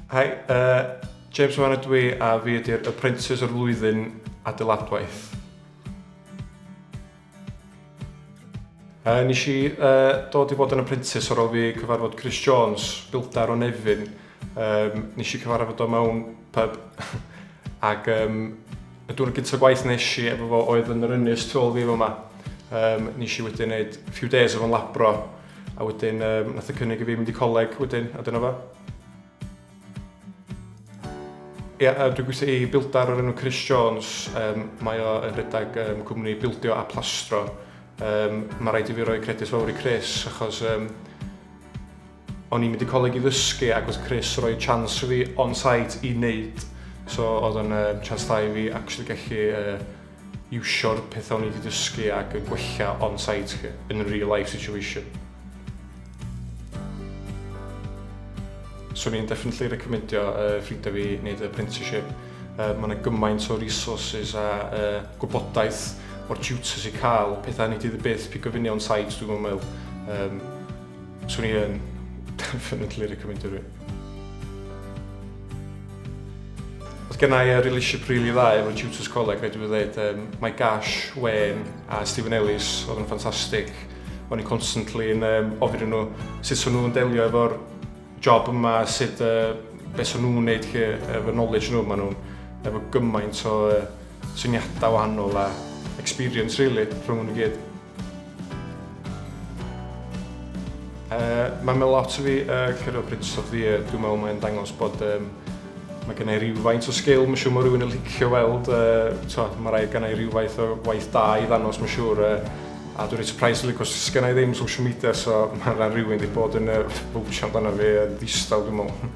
Hi, uh, James Wan ydw i a fi ydy'r apprentice o'r flwyddyn adeiladwaith. Uh, nes i uh, dod i fod yn apprentice ar ôl fi cyfarfod Chris Jones, bildar o Nefyn, Um, nes i cyfarfod o mewn pub. Ac um, y dwrnod gyntaf gwaith nes i efo fo oedd yn yr ynys tu ôl fi fo yma. Um, nes i wedyn neud few days o'n labro a wedyn um, nath y cynnig i fi mynd i coleg wedyn a dyna fo. Ie, yeah, dwi'n gweithio i bildar o'r enw Chris Jones. Um, mae o yn rhedeg um, cwmni bildio a plastro. Um, mae rhaid i fi roi credit fawr i Chris achos um, O'n i'n mynd i coleg i ddysgu ac oedd Chris roi chance fi on-site i wneud. So oedd o'n uh, chance da i fi actually gallu uh, iwsio'r pethau o'n i wedi dysgu ac yn gwella on-site chi, yn real life situation. So ni'n definitely recommendio uh, ffrindiau fi wneud apprenticeship. Uh, mae yna gymaint o resources a uh, gwybodaeth o'r tutors i cael, pethau ni dydd y byth, pigo fyny on-site dwi'n meddwl. Um, Swn i yn definitely recomendio rhywun. Oedd gennau i relationship rili dda efo tutors coleg, rhaid i fi ddweud. Um, mae Gash, Wayne a Stephen Ellis oedd yn ffantastig. O'n i constantly yn um, ofyn nhw sut o'n nhw'n delio efo'r job yma, sut uh, beth o'n nhw'n neud lle, efo knowledge nhw. Mae nhw'n efo gymaint o uh, syniadau wahanol a experience, really, rhwng nhw'n gyd. Yy ma' ma' lot o fi yy curo Prince of the Air dwi'n me'wl mae'n dangos bod yym ma' gennai rywfaint o sgil ma' siŵr ma' rywun yn licio weld yy t'o' ma' raid gennai rywfaith o waith da i ddanos ma' siŵr yy a dwi reit sypreis rili 'c'os sgennai ddim social media so ma' ma' rywun 'di bod yn yy bownsio amdano fi yn ddistaw dwi me'wl.